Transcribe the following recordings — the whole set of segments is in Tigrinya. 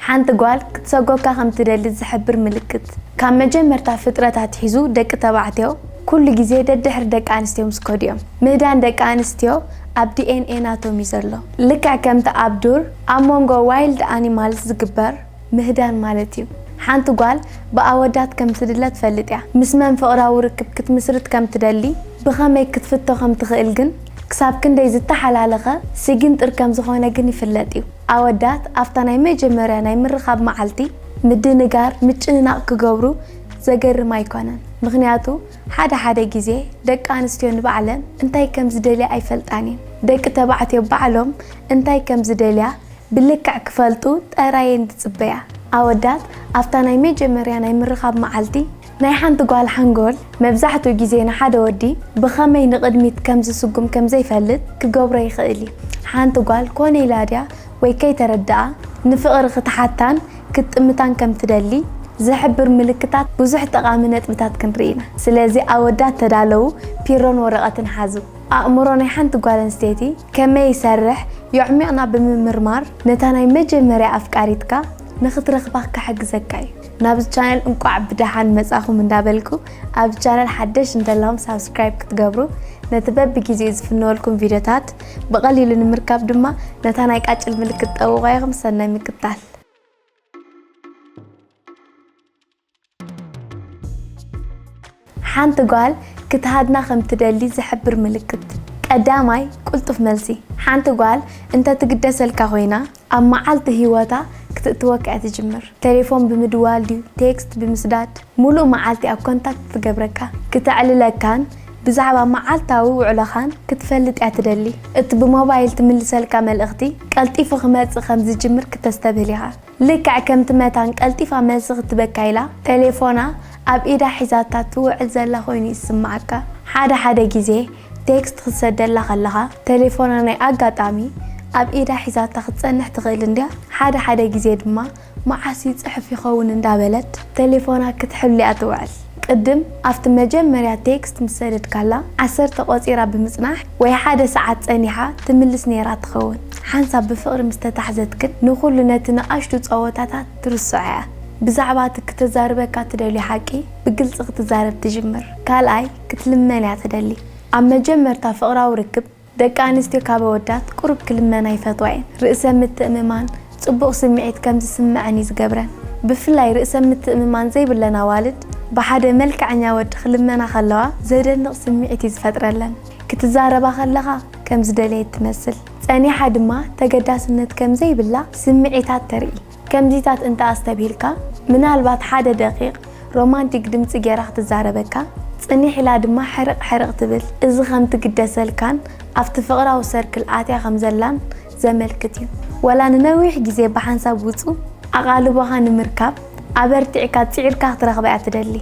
ሓንቲ ጓል ክትሰጎካ ከም ትደሊ ዝሕብር ምልክት። ካብ መጀመርታ ፍጥረት ኣትሒዙ ደቂ ተባዕትዮ ኩሉ ግዜ ደድሕሪ ደቂ ኣንስትዮ ምስ ከዱ እዮም። ምህዳን ደቂ ኣንስትዮ ኣብ ዲኤንኤ ናቶም እዩ ዘሎ። ልክዕ ከምቲ ኣብ ዱር ኣብ መንጎ ዋይልድ ኣኒማልስ ዝግበር ምህዳን ማለት እዩ። ሓንቲ ጓል ብኣወዳት ከም ትድለ ትፈልጥ እያ። ምስ መን ፍቕራዊ ርክብ ክትምስርት ከም ትደሊ ብኸመይ ክትፍቶ ከም ትኽእል ግን ክሳብ ክንደይ ዝተሓላለኸ ስጊንጥር ከም ዝኾነ ግን ይፍለጥ እዩ። ኣወዳት ኣብታ ናይ መጀመርያ ናይ ምርኻብ መዓልቲ ምድንጋር፣ ምጭንናቕ ክገብሩ ዘገርም ኣይኰነን። ምኽንያቱ ሓደ ሓደ ግዜ ደቂ ኣንስትዮ ንባዕለን እንታይ ከም ዝደልያ ኣይፈልጣን እየን። ደቂ ተባዕትዮ ባዕሎም እንታይ ከም ዝደልያ ብልክዕ ክፈልጡ ጥራይ እየን ዝጽበያ። ኣወዳት ኣብታ ናይ መጀመርያ ናይ ምርኻብ መዓልቲ፣ ናይ ሓንቲ ጓል ሓንጎል መብዛሕትኡ ግዜ ንሓደ ወዲ ብኸመይ ንቕድሚት ከም ዝስጉም ከም ዘይፈልጥ ክገብሮ ይኽእል እዩ። ሓንቲ ጓል ኮነ ኢላ ድያ ወይ ከይተረድኣ ንፍቕሪ ክትሓታን ክትጥምታን ከም ትደሊ ዝሕብር ምልክታት ብዙሕ ጠቓሚ ነጥብታት ክንርኢ ኢና። ስለዚ ኣወዳት ተዳለዉ፣ ፒሮን ወረቐትን ሓዙ። ኣእምሮ ናይ ሓንቲ ጓል ኣንስተይቲ፣ ከመይ ይሰርሕ ዮዕሚቕና ብምምርማር ነታ ናይ መጀመርያ ኣፍቃሪትካ ንክትረኽባ ክሕግዘካ እዩ። ናብዚ ቻነል እንቋዕ ብደሓን መጻኹም እንዳበልኩ ኣብዚ ቻነል ሓደሽ እንተለኹም ሳብስክራይብ ክትገብሩ ነቲ በብጊዜኡ ዝፍነወልኩም ቪድዮታት ብቐሊሉ ንምርካብ ድማ ነታ ናይ ቃጭል ምልክት ጠውቑዋ ኢኹም ሰናይ ምክታል። ሓንቲ ጓል ክትሃድና ከም ትደሊ ዝሕብር ምልክት። ቀዳማይ ቅልጡፍ መልሲ፣ ሓንቲ ጓል እንተ ትግደሰልካ ኮይና፣ ኣብ መዓልቲ ህይወታ ክትእትወካ እያ ትጅምር። ቴሌፎን ብምድዋል ድዩ ቴክስት ብምስዳድ ምሉእ መዓልቲ ኣብ ኮንታክት ትገብረካ። ክተዕልለካን ብዛዕባ መዓልታዊ ውዕሎኻን ክትፈልጥ እያ ትደሊ። እቲ ብሞባይል ትምልሰልካ መልእኽቲ ቀልጢፉ ክመጽእ ከም ዝጅምር ክተስተብህል ኢኻ። ልክዕ ከምቲ መታን ቀልጢፋ መልሲ ክትበካ ኢላ ተሌፎና ኣብ ኢዳ ሒዛታ ትውዕል ዘላ ኮይኑ ይስምዓካ። ሓደ ሓደ ግዜ ቴክስት ክትሰደላ ከለኻ ተሌፎና ናይ ኣጋጣሚ ኣብ ኢዳ ሒዛታ ክትጸንሕ ትኽእል እንድያ፣ ሓደ ሓደ ግዜ ድማ መዓስ ይጽሕፍ ይኸውን እንዳበለት ተሌፎና ክትሕሉ'ያ ትውዕል። ቅድም ኣብቲ መጀመርያ ቴክስት ምስ ሰደድካላ ዓሰርተ ቆጺራ ብምጽናሕ ወይ ሓደ ሰዓት ጸኒሓ ትምልስ ኔራ ትኸውን። ሓንሳብ ብፍቕሪ ምስ ተታሕዘት ግን ንኹሉ ነቲ ንኣሽቱ ጸወታታት ትርስዖ'ያ። ብዛዕባ እቲ ክተዛርበካ ትደልዮ ሓቂ ብግልጺ ክትዛረብ ትጅምር። ካልኣይ ክትልመን'ያ ትደሊ። ኣብ መጀመርታ ፍቕራዊ ርክብ፣ ደቂ ኣንስትዮ ካብ ኣወዳት ቁሩብ ክልመና ይፈትዋ እየን። ርእሰ ምትእምማን፣ ጽቡቕ ስምዒት ከም ዝስመዐን እዩ ዝገብረን። ብፍላይ ርእሰ ምትእምማን ዘይብለን ኣዋልድ ብሓደ መልከዐኛ ወዲ ክልመና ከለዋ ዘደንቕ ስምዒት እዩ ዝፈጥረለን። ክትዛረባ ከለኻ ከም ዝደለየት ትመስል። ጸኒሓ ድማ ተገዳስነት ከም ዘይብላ ስምዒታት ተርኢ። ከምዚታት እንተ ኣስተብሂልካ፣ ምናልባት ሓደ ደቒቕ ሮማንቲክ ድምጺ ገይራ ክትዛረበካ፣ ጽኒሕ ኢላ ድማ ሕርቕ ሕርቕ ትብል፣ እዚ ከም ትግደሰልካን ኣብቲ ፍቕራዊ ሰርክል ኣትያ ከም ዘላን ዘመልክት እዩ። ዋላ ንነዊሕ ግዜ ብሓንሳብ ውጹእ ኣቓልቦኻ ንምርካብ ኣበርቲዕካ ጺዒርካ ክትረኽባ እያ ትደሊ።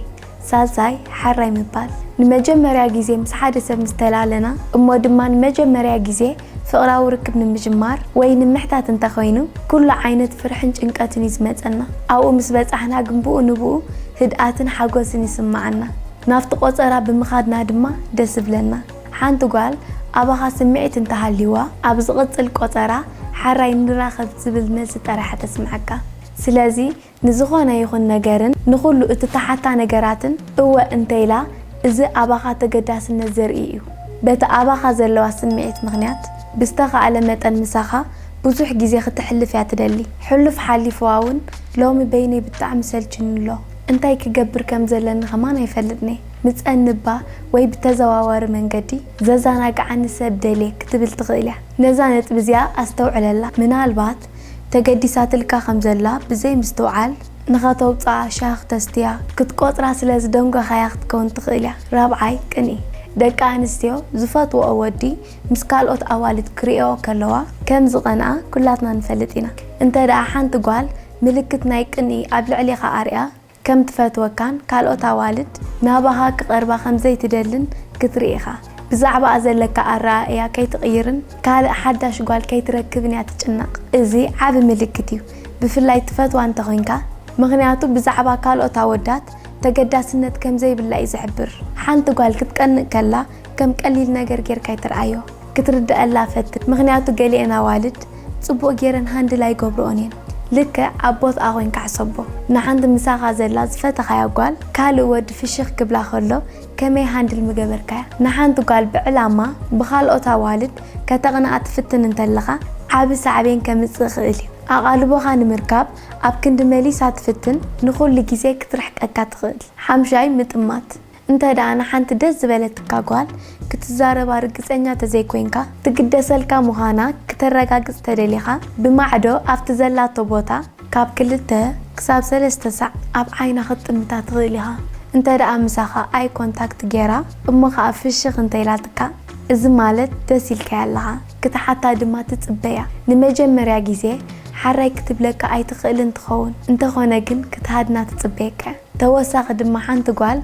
ዛዛይ ሓራይ ምባል ንመጀመርያ ግዜ ምስ ሓደ ሰብ ምስ ተላለና እሞ ድማ ንመጀመርያ ግዜ ፍቕራዊ ርክብ ንምጅማር ወይ ንምሕታት እንተ ኾይኑ ኩሉ ዓይነት ፍርሕን ጭንቀትን እዩ ዝመጸና። ኣብኡ ምስ በጻሕና ግን ብኡ ንብኡ ህድኣትን ሓጎስን ይስመዓና። ናብቲ ቆጸራ ብምኻድና ድማ ደስ ይብለና። ሓንቲ ጓል ኣባኻ ስምዒት እንተ ሃልይዋ ኣብ ዝቕጽል ቆጸራ ሓራይ ንራኸብ ዝብል መልሲ ጥራሕ እያ ተስምዓካ። ስለዚ ንዝኾነ ይኹን ነገርን ንኹሉ እትተሓታ ነገራትን እወ እንተኢላ እዚ ኣባኻ ተገዳስነት ዘርኢ እዩ። በቲ ኣባኻ ዘለዋ ስምዒት ምኽንያት ብዝተኻእለ መጠን ምሳኻ ብዙሕ ግዜ ክተሕልፍ እያ ትደሊ። ሕሉፍ ሓሊፍዋ ውን ሎሚ በይነይ ብጣዕሚ ሰልችዩኒ ኣሎ እንታይ ክገብር ከም ዘለኒ ከማን ኣይፈልጥን'የ ምጸንብ'ባ ወይ ብተዘዋዋሪ መንገዲ ዘዛናግዓኒ ሰብ ደልየ ክትብል ትኽእል እያ። ነዛ ነጥቢ እዚኣ ኣስተውዕለላ ምናልባት ተገዲሳትልካ ከም ዘላ ብዘይ ምስትውዓል ንኸተውጽኣ ሻህ ክተስትያ ክትቆጽራ ስለ ዝደንጎኻያ ክትከውን ትኽእል እያ። ራብዓይ ቅንኢ ደቂ ኣንስትዮ ዝፈትወኦ ወዲ ምስ ካልኦት ኣዋልድ ክርእየኦ ከለዋ ከም ዝቐንኣ ኩላትና ንፈልጥ ኢና። እንተድኣ ሓንቲ ጓል ምልክት ናይ ቅንኢ ኣብ ልዕሌኻ ኣርእያ፣ ከም ትፈትወካን ካልኦት ኣዋልድ ናባኻ ክቐርባ ከም ዘይትደልን ክትርኢ ኢኻ። ብዛዕባኣ ዘለካ ኣረኣእያ ከይትቕይርን ካልእ ሓዳሽ ጓል ከይትረክብን እያ ትጭነቕ። እዚ ዓቢ ምልክት እዩ፣ ብፍላይ ትፈትዋ እንተ ዄንካ፣ ምኽንያቱ ብዛዕባ ካልኦት ኣወዳት ተገዳስነት ከም ዘይብላ እዩ ዝሕብር። ሓንቲ ጓል ክትቀንእ ከላ ከም ቀሊል ነገር ጌርካ ኣይትርኣዮ ክትርደኣላ ፈትን ምክንያቱ ገሊኤን ኣዋልድ ጽቡቅ ጌረን ሃንድል ኣይገብርኦን እየን ልክዕ ኣቦትኣ ኮንካ ሕሰቦ ንሓንቲ ምሳካ ዘላ ዝፈተካያ ጓል ካልእ ወዲ ፍሽክ ክብላ ከሎ ከመይ ሃንድል ምገበርካያ ንሓንቲ ጓል ብዕላማ ብካልኦት ኣዋልድ ከተቅንኣ ትፍትን እንተለካ ዓቢ ሳዕቤን ከምጽእ ይክእል እዩ ኣቃልቦካ ንምርካብ ኣብ ክንዲ መሊሳ ትፍትን ንኩሉ ግዜ ክትርሕቀካ ትክእል ሓምሻይ ምጥማት እንተ ደኣ ንሓንቲ ደስ ዝበለትካ ጓል ክትዛረባ ርግጸኛ ተዘይኮይንካ፣ ትግደሰልካ ምዃና ክተረጋግጽ ተደሊኻ፣ ብማዕዶ ኣብቲ ዘላቶ ቦታ ካብ ክልተ ክሳብ ሰለስተ ሳዕ ኣብ ዓይና ክትጥምታ ትኽእል ኢኻ። እንተ ደኣ ምሳኻ ኣይ ኮንታክት ጌራ እሞ ከኣ ፍሽኽ እንተ ኢላትካ፣ እዚ ማለት ደስ ኢልካያ ኣለኻ፣ ክትሓታ ድማ ትጽበ እያ። ንመጀመርያ ግዜ ሓራይ ክትብለካ ኣይትኽእልን ትኸውን፣ እንተኾነ ግን ክትሃድና ትጽበየካ እያ። ተወሳኺ ድማ ሓንቲ ጓል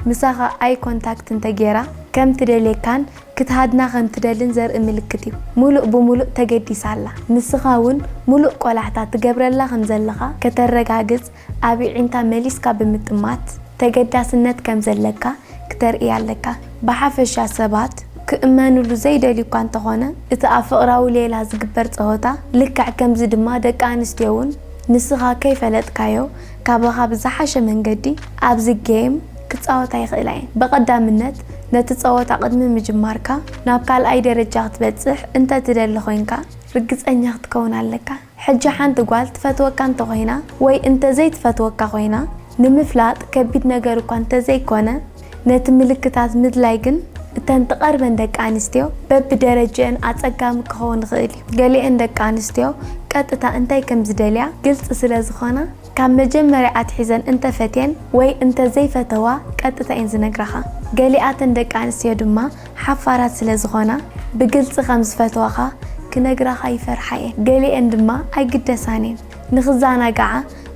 ምሳኻ ኣይ ኮንታክት እንተጌራ ከም ትደልየካን ክትሃድና ከም ትደልን ዘርኢ ምልክት እዩ። ምሉእ ብምሉእ ተገዲሳ ኣላ። ንስኻ እውን ምሉእ ቆላሕታ ትገብረላ ከም ዘለኻ ከተረጋግጽ ኣብ የዒንታ መሊስካ ብምጥማት ተገዳስነት ከም ዘለካ ክተርእያ ኣለካ። ብሓፈሻ ሰባት ክእመንሉ ዘይደልዩ እኳ እንተኾነ እቲ ኣብ ፍቕራዊ ሌላ ዝግበር ጸወታ ልክዕ ከምዚ ድማ ደቂ ኣንስትዮ እውን ንስኻ ከይፈለጥካዮ ካባኻ ብዝሓሸ መንገዲ ኣብዚ ጌይም ክጻወታ ይኽእላ እየን። ብቐዳምነት ነቲ ጸወታ ቅድሚ ምጅማርካ ናብ ካልኣይ ደረጃ ክትበጽሕ እንተ ትደሊ ኮይንካ ርግጸኛ ክትከውን ኣለካ። ሕጂ ሓንቲ ጓል ትፈትወካ እንተ ኮይና ወይ እንተ ዘይትፈትወካ ኮይና ንምፍላጥ ከቢድ ነገር እኳ እንተ ዘይኮነ፣ ነቲ ምልክታት ምድላይ ግን እተን ትቐርበን ደቂ ኣንስትዮ በብደረጅእን ኣጸጋሚ ክኸውን ይኽእል እዩ። ገሊኤን ደቂ ኣንስትዮ ቀጥታ እንታይ ከም ዝደልያ ግልጺ ስለ ዝኾና፣ ካብ መጀመርያ ኣትሒዘን እንተ ፈትየን ወይ እንተ ዘይፈተዋ ቀጥታ እየን ዝነግራኻ። ገሊኣተን ደቂ ኣንስትዮ ድማ ሓፋራት ስለ ዝኾና ብግልጺ ከም ዝፈትዋኻ ክነግራኻ ይፈርሓ እየን። ገሊኤን ድማ ኣይግደሳን እየን፣ ንኽዘናግዓ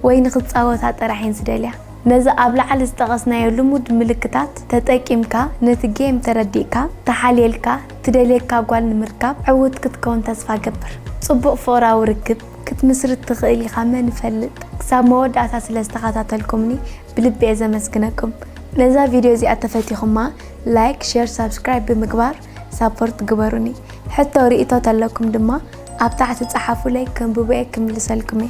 ወይ ንኽጻወታ ጥራሕ እየን ዝደልያ። ነዚ ኣብ ላዕሊ ዝጠቐስናዮ ልሙድ ምልክታት ተጠቂምካ ነቲ ጌም ተረዲእካ ተሓልየልካ ትደልየካ ጓል ንምርካብ ዕውት ክትከውን ተስፋ እገብር። ጽቡቕ ፍቕራዊ ርክብ ክትምስርት ትኽእል ኢኻ መን ይፈልጥ። ክሳብ መወዳእታ ስለ ዝተኸታተልኩምኒ ብልቢ'የ ዘመስግነኩም። ነዛ ቪድዮ እዚኣ ተፈቲኹማ ላይክ ሼር ሳብስክራይብ ብምግባር ሳፖርት ግበሩኒ። ሕቶ ርኢቶ ተለኩም ድማ ኣብ ታሕቲ ጸሓፉለይ ከንብቦ'የ ክምልሰልኩም'የ።